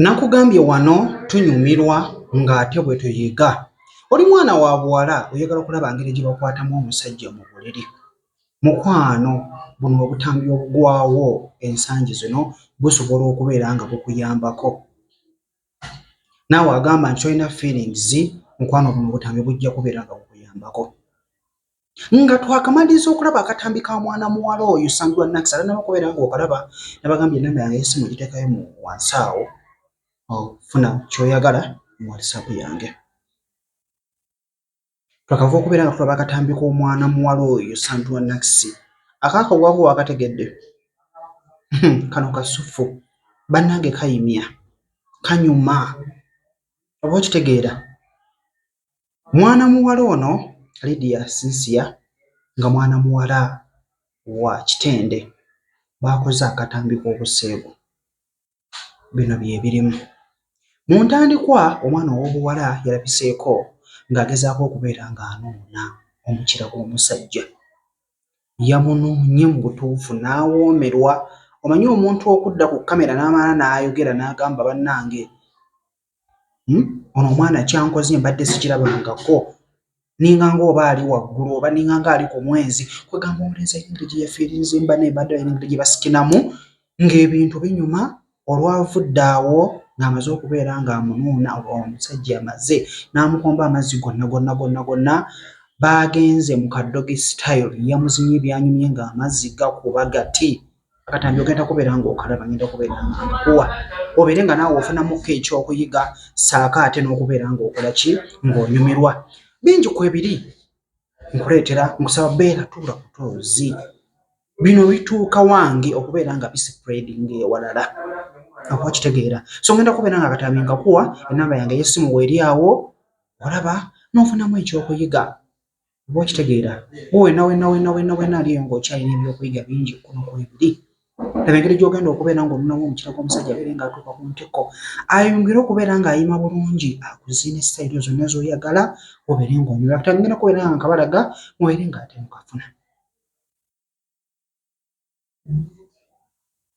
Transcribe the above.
nakugambye wano tunyumirwa ng'ate bwe tuyiga oli mwana wa buwala oyagala okulaba ngeri gye bakwatamu omusajja mu buliri mukwano buno obutambi obugwawo ensangi zino busobola okubeera nga bukuyambako naawe agamba nti tolina feelings mukwano buno obutambi bujja kubeera nga bukuyambako nga twakamaliriza okulaba akatambi ka mwana muwala oyo sandula nax alanaba okubeera nga okalaba nabagambye enamba yange yesimu egiteekayo mu wansi awo ofuna kyoyagala mu whatsapp yange twakava okubeera nga tulaba akatambi k'omwana muwala oyo sandula nax akakawako wakategedde kano kasufu bannange kayimya kanyuma oba okitegeera Mwana muwala ono Lydia Cynthia nga mwana muwala wa Kitende baakoze akatambi k'obuseegu. Bino bye birimu. Mu ntandikwa omwana ow'obuwala yalabiseeko ng'agezaako okubeera ng'anoona omukira gw'omusajja. Yamunoonye mu butuufu n'awoomerwa. Omanyi omuntu okudda ku kkamera n'amala n'ayogera n'agamba bannange Hmm? ono omwana kyankoze mbadde sikirabangako ninganga oba ali waggulu oba ninganga ali ku mwezi kwegamba omulenzi ayina engeri gyeyafiirinze mba naye mbadde alina engeri gyebasikinamu ng'ebintu binyuma olwavudde awo ng'amaze okubeera ng'amunuuna omusajja amaze n'amukomba amazzi gonna gonna gonna gonna baagenze mu kaddogi style yamuzinye byanyumye ng'amazzi gakuba gati akatambi ogenda kubeera ng'okalaba ngenda kubeera nkuwa obeere nga naawe ofunamuko ekyokuyiga saako ate n'okubeera ng'okola ki ng'onyumirwa bingi kwebiri nkuleetera nkusaba beera tuula kutoozi bino bituuka wange okubeera nga bisipreding ewalala akuba kitegeera so ngenda kubeera nga akatambi nkakuwa enamba yange eyessimu weeri awo olaba n'ofunamu ekyokuyiga Oba okitegeera oba wena wena wena wena wena aliyo nga okyalina ebyokuyiga bingi kuno kwebiri laba engeri gyogenda okubeera nga omunamu omukira gwomusajja abeere nga atuuka ku ntikko ayongere okubeera nga ayima bulungi akuzina esayiro zonna zoyagala obeere nga onyola kati agenda kubeera nga nkabalaga mubeere nga ate mukafuna